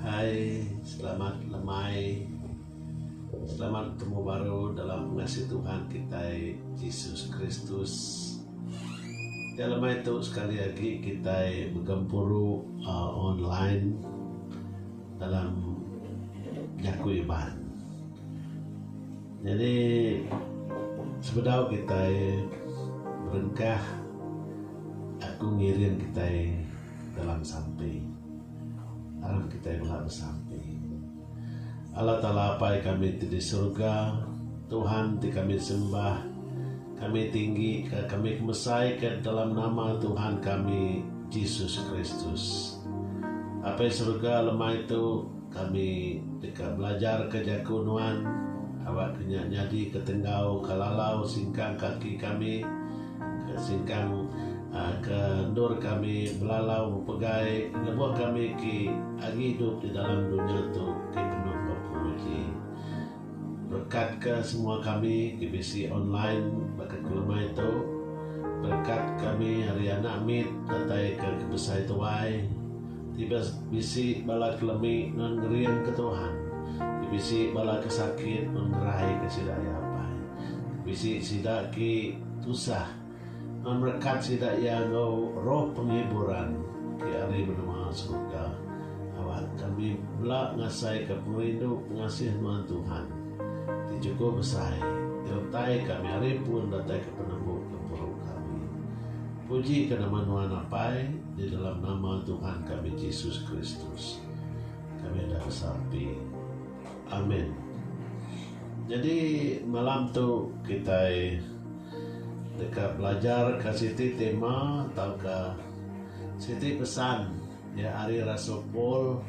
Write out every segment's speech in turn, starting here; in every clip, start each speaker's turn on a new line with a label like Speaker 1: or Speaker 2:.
Speaker 1: Hai selamat lemai selamat betemu baru dalam pengasih Tuhan kitai Jesus Kristus. Nya lemai tu sekali agi kitai begempuru uhh online dalam jaku Iban. Nyadi sebedau kitai berengkah aku ngiring kitai dalam sampi aram kitai bela besampi. Allah Taala Apai kami ti di surga Tuhan ti kami sembah kami tinggi ka kami kemesai ka dalam nama Tuhan kami Jesus Kristus. Apai surga lemai tu Kami deka belajarka jaku Nuan awakka nya nyadika tenggau ke lalau singkang kaki kami, ke singkang ke endur kami belalau bepegai lebuh kami ke agi idup di dalam dunya tu ke penuh bepenguji. Berkatka semua kami ke bisi online baka ke lemai tu. Berkat kami ari anak mit datai ke ke besai tuai ti bisi bala ke lemi non ngering ke Tuhan, ti bisi bala ke sakit non ngerai ke sida iya apai, ti bisi sida ki tusah. Ngerekat sida iya enggau roh penghiburan ti ari menua serega. Awak kami bela ngasaika pengerindu pengasih nuan Tuhan ti chukul besai di utai kami ari pun datai ke penembu gempuru kami. Puji ke nama nuan apai di dalam nama Tuhan kami Jesus Kristus kami udah besampi. Amen. Nyadi malam tu kitai. Deka belajar ka siti tema tauka siti pesan iya ari rasul Paul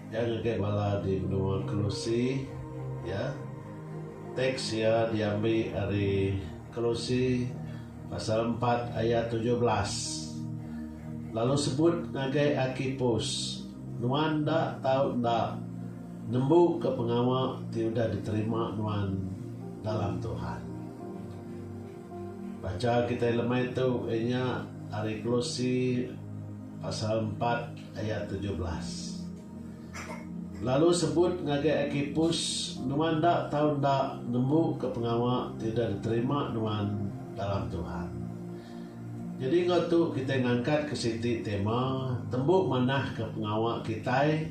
Speaker 1: iya ngagai bala di menua Kolose ya. Teks iya diambi ari Kolose pasal empat ayat tujuh belas. Lalu sebut ngagai Arkipus, Nuan enda tau enda Nembuka pengawa ti udah diterima nuan dalam Tuhan. Bacha kitai lemai tu iya nya ari Kolose pasal empat ayat tujuh belas. Lalu sebut ngagai Arkipus, nuan enda tau enda nembuka pengawa ti udah diterima nuan dalam Tuhan. Nyadi enggau tu kitai ngangkatka siti tema Tembu Manahka Pengawa Kitai.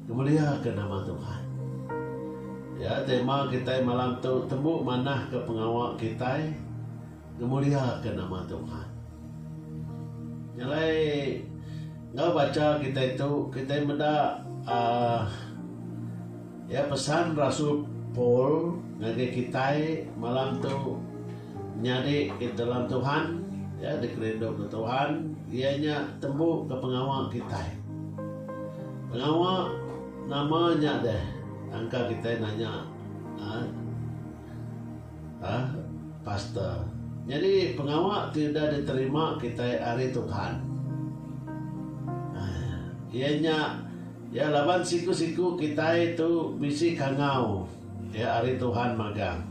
Speaker 1: Ngemuliaka nama Tuhan. Ya, tema kitai malam tu tembu manahka pengawa kitai ngemuliaka nama Tuhan. Nya alai enggau bacha kitai tu kitai meda uhh ya pesan rasul Paul ngagai kitai malam tu Nyadi dalam Tuhan, iya dikerindu ke Tuhan, iya nya tembu ke pengawa kitai. Pengawa nama nya deh angka kitai nanya uhh pastor. Nyadi pengawa ti udah diterima kitai ari Tuhan uhh iya nya iya laban siku-siku kitai tu bisi kangau ari Tuhan magang.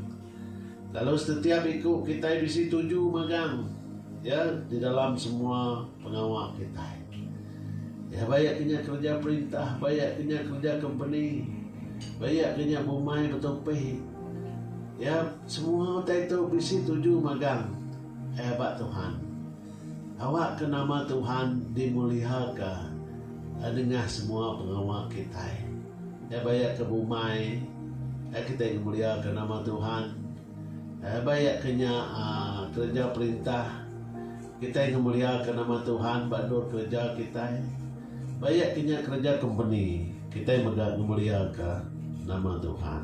Speaker 1: Lalu setetiap iku kitai bisi tuju magang Iya di dalam semua pengawa kitai. Iya ba iya ke nya kereja perintah, ba iya ke nya kereja kompeni, ba iya ke nya bumai betupi. Iya semua utai tu bisi tuju magang Iya ba Tuhan. Awakka nama Tuhan dimuliaka nengah semua pengawa kitai. Nya baya ke bumai kitai ngemuliaka nama Tuhan. Baya ke nya kereja perintah kitai ngemuliaka nama Tuhan ba endur kereja kitai. Baya ke nya kereja kompeni kitai mega ngemuliaka nama Tuhan.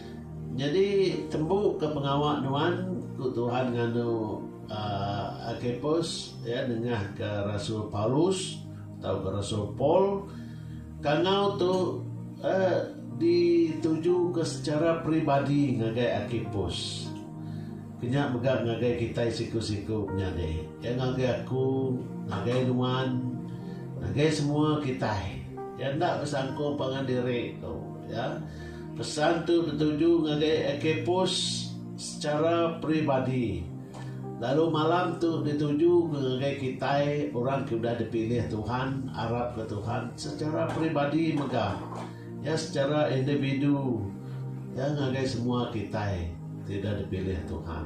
Speaker 1: Nyadi tembu ka pengawa nuan, ku Tuhan nganu Arkhipus, iya nengah ka rasul Paulus tauka rasul Paul. Kangau tu dituju ka secara peribadi ngagai Arkhipus, ke nya mega ngagai kitai siku-siku menyadi. Iya ngagai aku, ngagai nuan, ngagai semua kitai. Iya enda besangko pangan diri, ku iya. Pesan tu betuju ngagai Archippus sechara peribadi, lalu malam tu dituju mega ngagai kitai orang ke udah dipilih Tuhan arapka Tuhan sechara peribadi mega iya sechara individu iya ngagai semua kitai ti udah dipilih Tuhan.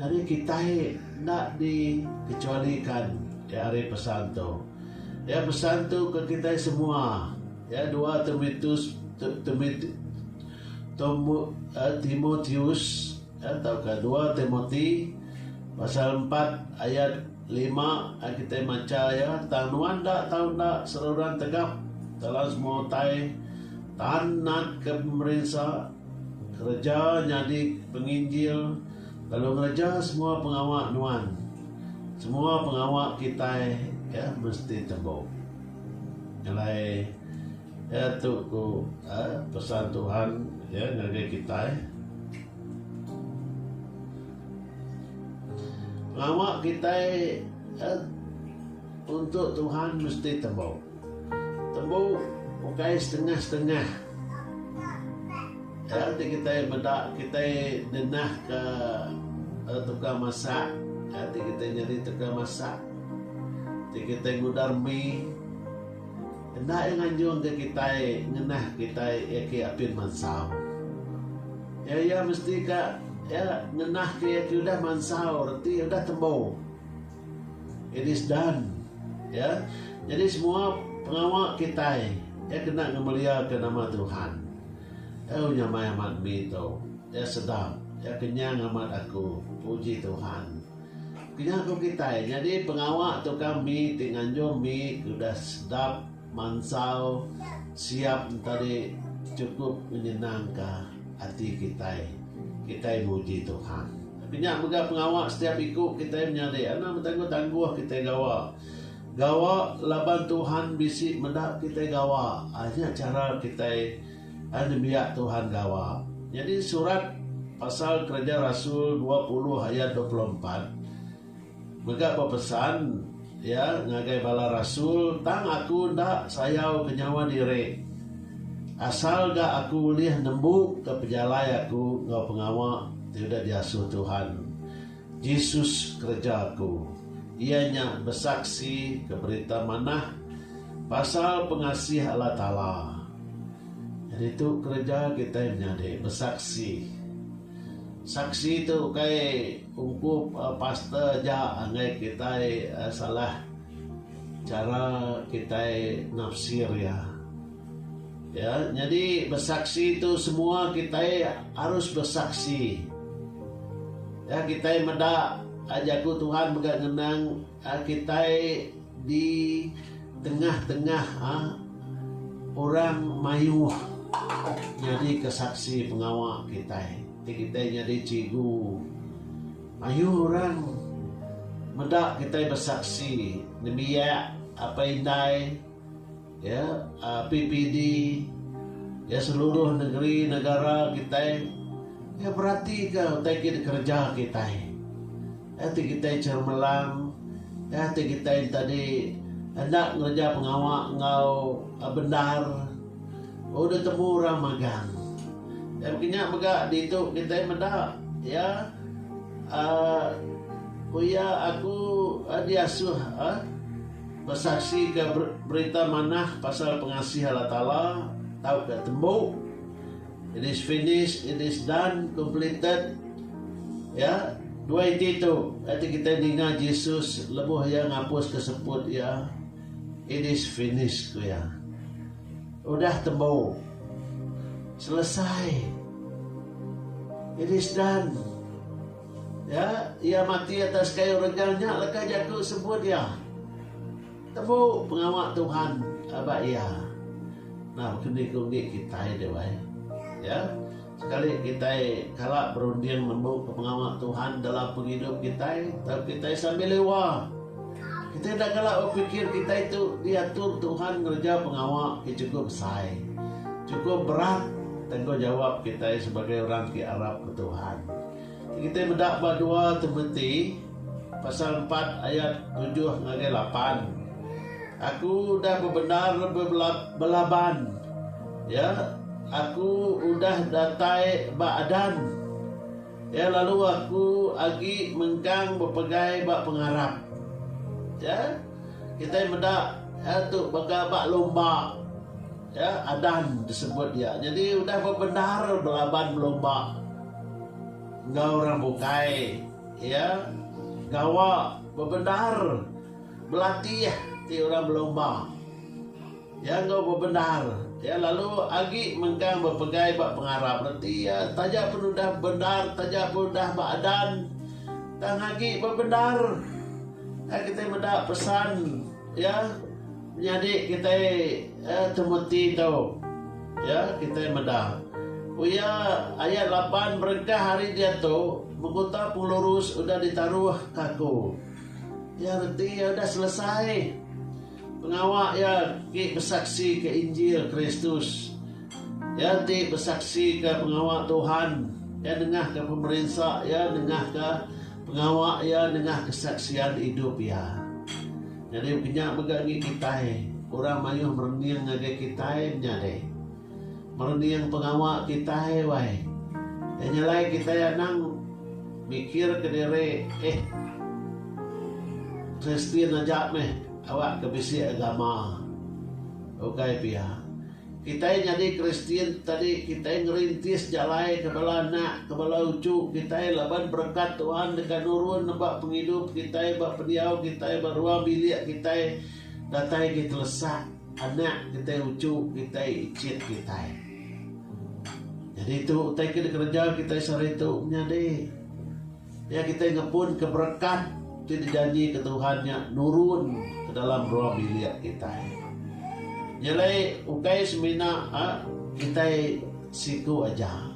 Speaker 1: Nyadi kitai enda di kecuali kan ke ari pesan tu. Iya pesan tu ke kitai semua. Iya dua Timitus Timit Timotius tauka dua Timoti pasal empat ayat lima ai kitai macha iya tang nuan enda tau enda seruran tegap dalam semua utai tan natka pemerinsa. Kereja nyadi penginjil lalu ngereja semua pengawa nuan. Semua pengawa kitai ke mesti tembu. Alai ke tu ku pesan Tuhan ke ngagai kitai. Pengawa kitai untuk Tuhan mesti tembu. Tembu ukai setengah-setengah. Nya ti kitai meda kitai ngenahka tukang masak. Nya ti kitai nyadi tukang masak. Ti kitai ngudar mi. Enda iya nganjungka kitai ngenah kitai iya ke apin mansau. Iya iya mesti ka iya ngenah ke iya ke udah mansau reti udah tembu. It is done. Ya. Nyadi semua pengawa kitai iya kena ngemeliaka nama Tuhan. Euu nyamai amat mi tu. Iya sedap. Iya kenyang amat aku. Puji Tuhan. Kenyah ku kitai. Nyadi pengawa tu ka mi ti nganjung mi ke udah sedap. Mansau siap entadi chukup nyenangka ati kitai. Kitai muji Tuhan. Tapi nya mega pengawa setiap iku kitai menyadi. Enda betangguh-tangguh kitai gawa. Gawa laban Tuhan bisi meda kitai gawa. Ai nya chara kitai ai nembiak Tuhan gawa. Nyadi surat pasal Kereja Rasul dua puluh ayat dua puluh empat. Mega bepesan iya ngagai bala rasul, Tang aku enda sayau ke nyawa diri, asal ga aku ulih nembungka pejalai aku enggau pengawa ti udah diasuh Tuhan Jesus kereja aku, iya nya besaksi ke Berita Manah pasal pengasih Allah Taala. Nyadi tu kereja kitai menyadi besaksi. Saksi tu ukai. Ungkup pastor aja enggai kitai salah chara kitai nafsir iya. Iya nyadi besaksi tu semua kitai harus besaksi. Iya kitai meda jaku Tuhan mega ngenang. Kitai di tengah-tengah orang mayuh nyadika saksi pengawa kitai. Ti kitai nyadi cikgu, mayuh orang meda kitai besaksi nembiak apai indai. Ya PPD ya seluruh negeri negara kitai ya beratika utai ke dikereja kitai. Ya ti kitai chemelang ya ti kitai enta di enda ngereja pengawa enggau bendar udah temu orang magang. Ya baka nya mega ditu kitai meda ya aaa ku iya aku diasuh aaa Besaksika berita manah pasal pengasih Allah Taala tauka tembu. It is finished, it is done, completed. Ya, dua iti tu ati kitai ninga Jesus lebuh iya ngapuska seput iya, It is finished, ku iya. Udah tembu. Selesai. It is done. Ya, iya mati atas kayu rejang nya leka jaku sebut iya. Tembu pengawa Tuhan ba iya. Enda baka ni ku enggi kitai deh wai. Ya, sekali kitai kala berunding nembuka pengawa Tuhan dalam pengidup kitai tauka kitai sambil lewa, kitai enda kala bepikir kitai tu diatur Tuhan ngereja pengawa ke chukup besai. Chukup berat tanggungjawap kitai sebagai orang ke arapka Tuhan. Kitai meda ba dua Timoti pasal empat ayat tujuh ngagai lapan, Aku udah bebendar belaban, ya, aku udah datai ba adan, ya, lalu aku agi mengkang bepegai ba pengarap. Ya, kitai meda iya tu baka ba lumba, ya, adan disebut iya. Nyadi udah bebendar belaban belumba. Enggau orang bukai, iya gawa bebendar belatih ti orang belumba. Iya enggau bebendar, iya lalu agi mengkang bepegai ba pengarap reti iya taja pen udah bendar, taja pen udah ba adan, tang agi bebendar. Ai kitai meda pesan iya. Menyadi kitai temeti tu, iya kitai meda. Ku iya, ayat lapan berengkah ari diatu, Menguta pengelurus udah ditaruh ke aku. Iya reti iya udah selesai pengawa iya engki besaksika Injil Kristus. Iya enti besaksika pengawa Tuhan, iya nengahka pemerinsa iya, nengahka pengawa iya, nengah kesaksian idup iya. Nyadi penya mega ngi kitai, orang mayuh merening ngagai kitai nya deh. Merening pengawa kitai wai. Iya nya alai kitai anang mikirka diri eh Kristian aja meh awakka bisi agama. Ukai pia. Kitai nyadi Kristian tu tadi kitai ngerintis jalai ke bala anak, ke bala uchu kitai laban berekat Tuhan deka nurun neba pengidup kitai ba pendiau kitai ba ruang bilik kitai datai agi telesak anak kitai uchu kitai ichit kitai. Nyadi tu utai ke dikereja kitai sehari tu menyadi. Nya kitai ngepunka berekah ti dijanjika Tuhan nya nurun ke dalam ruang bilik kitai. Nya alai ukai semina kitai siku aja.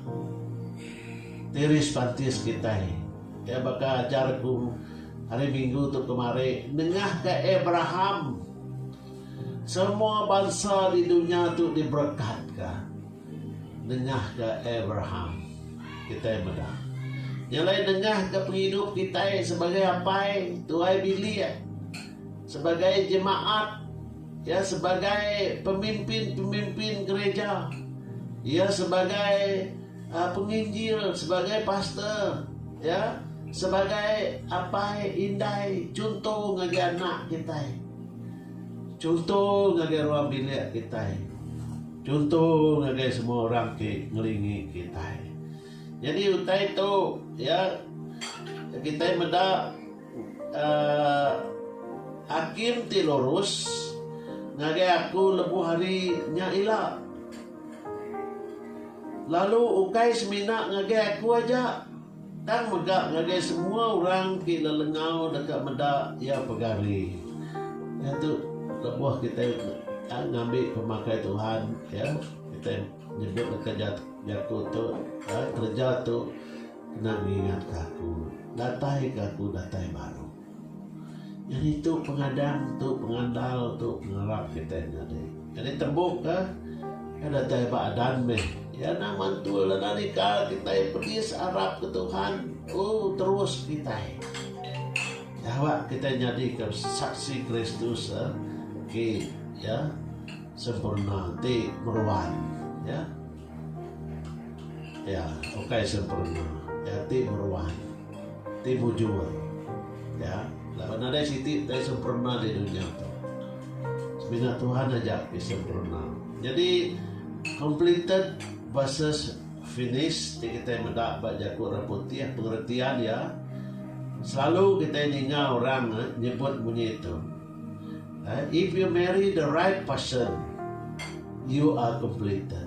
Speaker 1: Tiris pantis kitai iya baka ajar aku hari minggu tu kemari nengahka Abraham semua bansa di dunya tu diberekatka. Nengahka Abraham, kitai meda. Nya alai nengahka pengidup kitai sebagai apai, tuai bilik, sebagai jemaat, iya sebagai pemimpin-pemimpin gereja, iya sebagai penginjil, sebagai pastor, iya sebagai apai indai chunto ngagai anak kitai, chunto ngagai ruang bilik kitai. Chunto ngagai semua orang ti ngelingi kitai. Nyadi utai tu iya kitai meda uhh hakim ti lurus ngagai aku lebuh hari nya ila. Lalu ukai semina ngagai aku aja. Tang mega ngagai semua orang ti lelengau deka meda iya pegari. Iya tu lebuh kitai tang ngambi pemakai Tuhan ya kitai nyebut deka jaku tu kereja tu kena ngingatka aku datai ke aku datai baru. Nyadi tu pengadang tu pengandal tu pengarap kitai nyadi. Jadi tembu ka kai datai ba adan meh iya nang mantul anak nika kitai pedis arap ke Tuhan oh terus kitai dawa kitai nyadi ka saksi Kristus ke iya sempurna ti meruan iya ukai sempurna iya ti meruan. Ti mujur. Ya, laban nadai siti dai semperna di dunya tu. Semina Tuhan aja ti semperna. Nyadi completed versus finished ti kitai meda ba jaku orang putih pengertian iya selalu kitai ninga orang nyebut munyi tu. If you marry the right person, you are completed.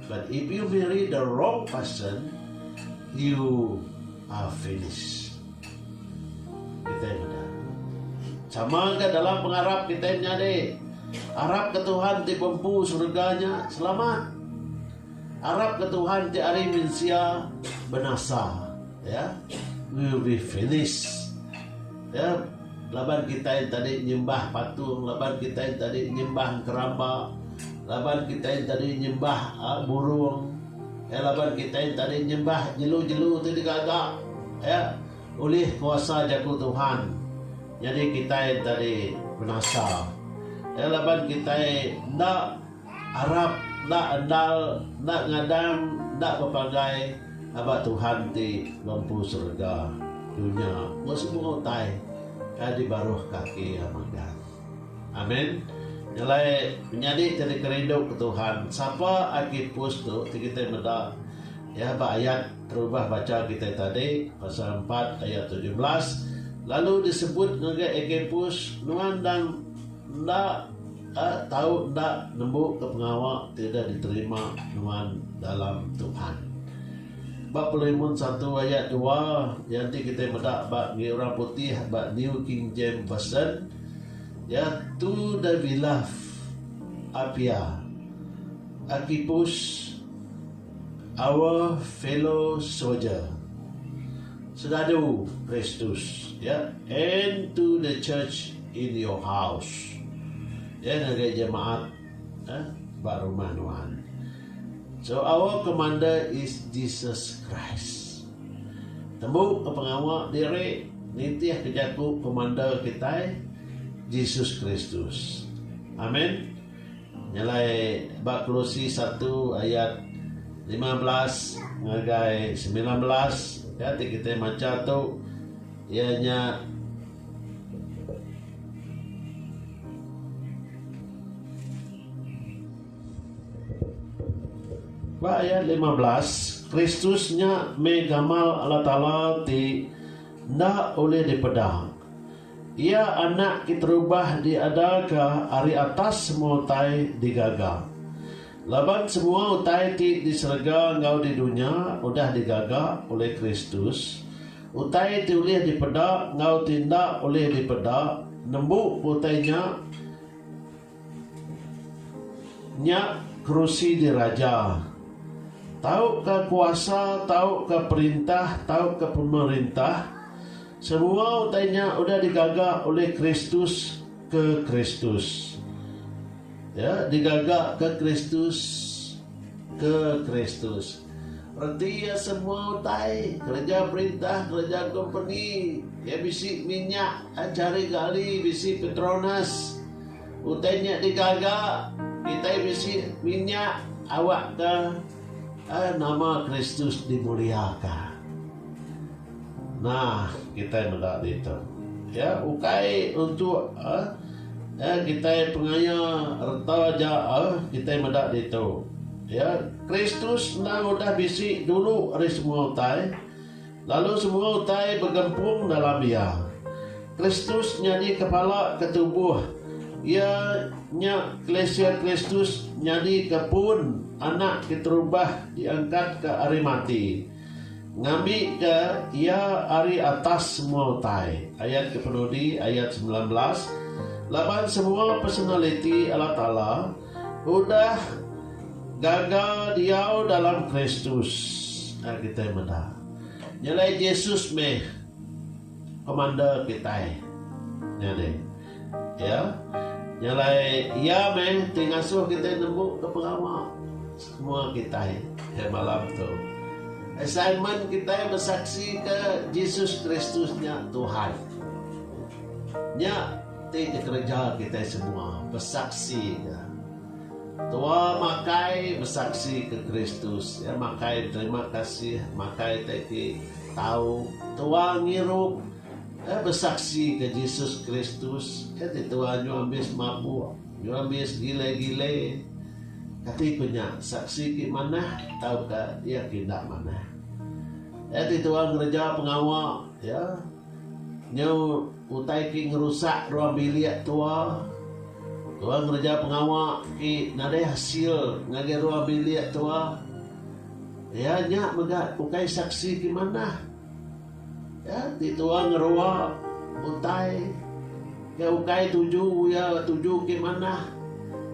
Speaker 1: But if you marry the wrong person, you are finished. Kita meda. Sama ke dalam pengarap kita nyadi. Arap ke Tuhan ti pempu surganya selamat. Arap ke Tuhan ti ari mensia benasa. Ya. Yeah? will be finished. Ya, laban kitai tadi nyembah patung, laban kitai tadi nyembah engkeramba, laban kitai tadi nyembah aa burung, ya laban kitai tadi nyembah jelu-jelu ti digaga, ya. Ulih kuasa Jaku Tuhan nyadi kitai enti tadi binasa. Ya, laban kitai enda. Arap enda endal, enda ngadang, enda bepagai aba Tuhan ti ba empu serega, dunya enggau semua utai kai di baruh kaki iya magang. Amin. Nyelai menyadi ti dikerindu ke Tuhan, sapa agi pus tu ti kitai meda iya ba ayat terubah bacha kitai tadi, pasal empat ayat tujuh belas, lalu disebut ngagai Agabus, nuan endang Enda tau enda nembuka pengawa ti udah diterima nuan dalam Tuhan. Ba Pelimun satu ayat dua, iya enti kitai meda ba ngi orang putih ba New King James Version, iya tu the beloved appear, Archippus, our fellow soldier. Senadu Kristus, ya, and to the church in your house, ya, ngagai jemaat, ya, ba rumah nuan. So our commander is Jesus Christ. Tembu ke pengawa diri nitihka jaku commander kitai, Jesus Kristus. Amen. Nyelai ba Kolose satu ayat lima belas ngagai semilan belas ka ti kitai macha tu iya nya Ba ayat lima belas Kristus nya meh gamal Allah Taala ti enda ulih dipeda. Iya anak keterubah diadaka ari atas semua utai digaga. Laban semua utai ti di serega enggau di dunya udah digaga ulih Kristus, utai ti ulih dipeda enggau ti enda ulih dipeda, nembu utai nya, Nya kerusi diraja. Tauka kuasa, tauka perintah, tauka pemerintah, semua utai nya udah digaga ulih Kristus ke Kristus. Ya, digaga ke Kristus ke Kristus. Reti iya semua utai, kereja perintah, kereja kompeni. Iya bisi minyak chari gali, bisi Petronas. Utai nya digaga kitai bisi minyak awakka nama Kristus dimuliaka. Nah, kitai meda ditu. Ya, ukai untuk ya, kitai pengaya reta aja kitai meda ditu. Ya, Kristus endang udah bisi dulu ari semua utai, lalu semua utai begempung dalam Iya. Kristus nyadi kepala ke tubuh Iya nya Kelisia Kristus nyadi ke pun Anak ke terubah diangkatka ari mati. Ngambika Iya ari atas semua utai, ayat ke penudi, ayat semilan belas, laban semua personaliti Allah Taala udah gaga diau dalam Kristus. Nya kitai meda. Nyelai Jesus meh Komander kitai. Nyadi, ya, nyelai Iya meh ti ngasuh kitai nembuka pengawa. Semua kitai ke malam tu assignment kitai besaksi ke Jesus Kristus nya Tuhan. Nya ti kereja kitai semua besaksi ke Tua makai besaksi ke Kristus ya makai terima kasih makai teki tau Tua ngirup eh besaksi ke Jesus Kristus ya ti Tua nyu ambis mabuk Ngeremis gile-gile. Kati ku nya, Saksi ti manah tauka iya ti enda manah? Iya ti tuai ngereja pengawa iya nyau utai ti ngerusak ruang bilik tua. Tuai ngereja pengawa ti nadai hasil ngagai ruang bilik tua. Iya nya mega ukai saksi ti manah. Iya ti tua ngerua utai ke ukai tuju iya tuju ke manah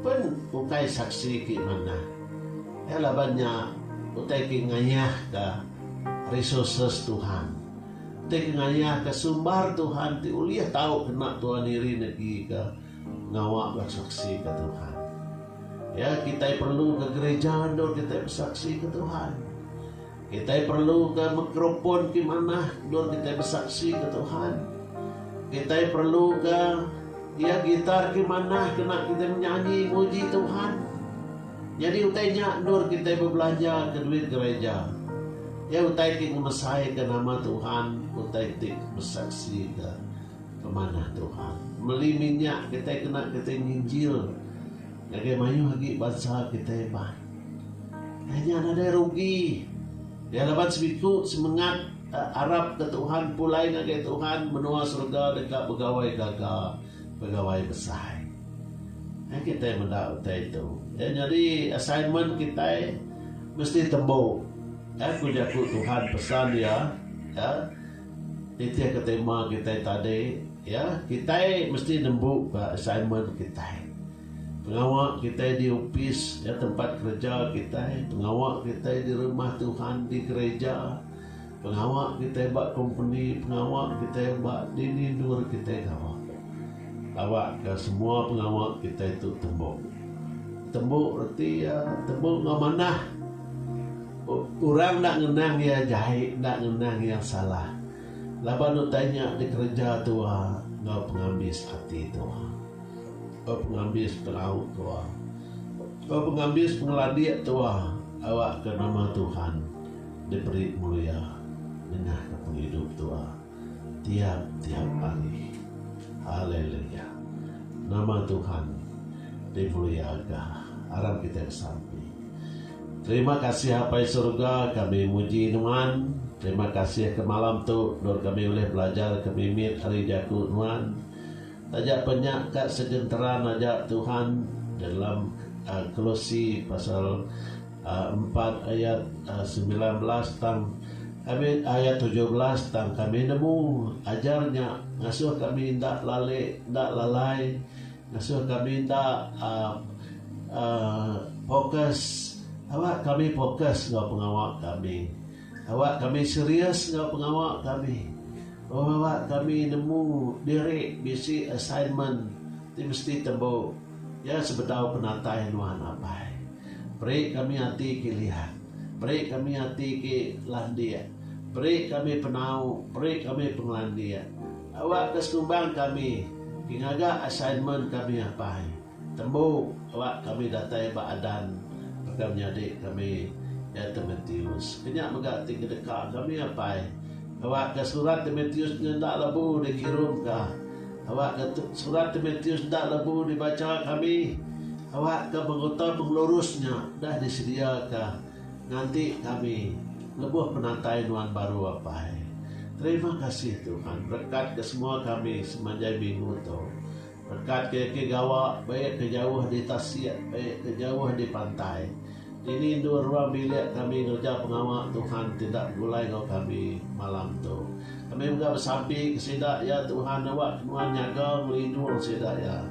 Speaker 1: pen ukai saksi ke manah. Iya laban nya utai ke ngayahka resources Tuhan. Utai ke ngayahka sumbar Tuhan ti ulih tau kena tua niri negika ngawa besaksika Tuhan. Iya kitai perluka gereja endur kitai besaksika Tuhan. Kitai perluka mikrofon ti manah endur kitai besaksi ke Tuhan. Kitai perluka iya gitar ti manah kena kitai menyanyi muji Tuhan. Nyadi utai nya endur kitai bebelanjaka duit gereja. Iya utai ti ngemesaika nama Tuhan, utai ti besaksika pemanah Tuhan. Meli minyak kitai kena kitai nginjil ngagai mayuh agi bansa kitai bah. Nya nadai rugi iya laban semiku semengat arap ke Tuhan pulai ngagai Tuhan menua serega deka begawai gaga begawai besai. Ai kitai meda utai tu iya nyadi assignment kitai mesti tembu ai ku jaku Tuhan pesan iya iya nitihka tema kitai tadi iya kitai mesti nembuka assignment kitai. Pengawa kitai di opis, ya tempat kereja kitai, pengawa kitai di Rumah Tuhan, di gereja, pengawa kitai ba kompeni, pengawa kitai ba dini endur kitai gawa. Tawakka semua pengawa kitai tu tembu. Tembu reti iya, tembu enggau manah. Orang enda ngenang iya jai, enda ngenang iya salah laban utai nya dikereja tuha enggau pengambis ati tuha. Ba pengambis perau tua. Ba pengambis pengelandik tua awakka nama Tuhan diberi mulia nengahka pengidup tua tiap-tiap hari. Haleluya. Nama Tuhan dimuliaka. Aram kitai besampi. Terima kasih Apai Surga kami muji Nuan. Terima kasih ke malam tu endur kami ulih belajar ke mimit ari jaku Nuan. Taja pa nya ka segenteran aja Tuhan dalam Kolose pasal empat ayat semilan belas tang kami ayat tujuh belas tang kami nemu ajar nya ngasuh kami enda lali enda lalai ngasuh kami enda uhh uhh fokus aba kami fokus enggau pengawa kami. Awak kami serius enggau pengawa kami. Beberapa kami nemu diri bisi assignment ti mesti tembu iya sebedau penatai nuan apai. Beri kami ati ke liat. Beri kami ati ke landik. Beri kami penau, beri kami pengelandik. Awakka sekumbang kami ke ngaga assignment kami apai. Tembu kela kami datai ba Adan baka menyadi kami iya Timotius. Kenya mega ti kedeka kami apai. Awakka surat Timotius nya enda lebu dikirumka. Awakka surat Timotius enda lebu dibacha kami. Awakka menguta pengelurus nya udah disediaka nganti kami lebuh penatai nuan baru apai. Terima kasih Tuhan berekatka semua kami semanjai minggu tu. Rekat ke ke gawa, baik ke jauh di tasik, baik ke jauh di pantai. Dini endur ruang bilik kami ngereja pengawa Tuhan ti enda begulai enggau kami malam tu. Kami mega besampi ke sida, ya Tuhan, awakka Nuan nyaga ngelindung sida, ya.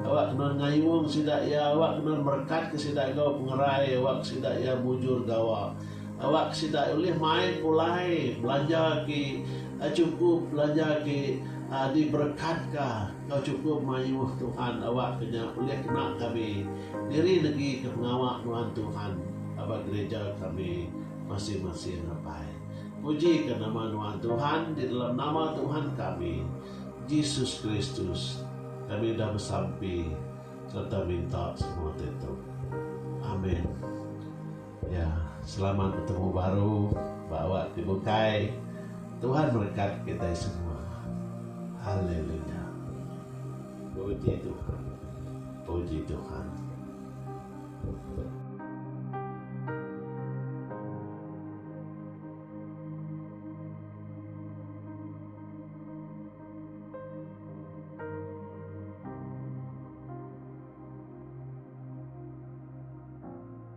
Speaker 1: Awakka Nuan ngayung sida, ya. Awakka Nuan merekatka sida enggau pengerai, awakka sida, ya, mujur gawa. Awak sida ulih mai pulai belanja ti chukup, belanja ti diberekatka enggau chukup mayuh Tuhan. Awak ke nya ulih kena kami diri negi ke pengawa nuan Tuhan ba gerija kami masing-masing apai. Pujika nama nuan Tuhan di dalam nama Tuhan kami, Jesus Kristus, kami udah besampi sereta minta semua ti tu. Amen. Ya, selamat betemu baru ba awak ti bukai. Tuhan merekat kitai semua. Haleluya. Puji Tuhan. Puji Tuhan.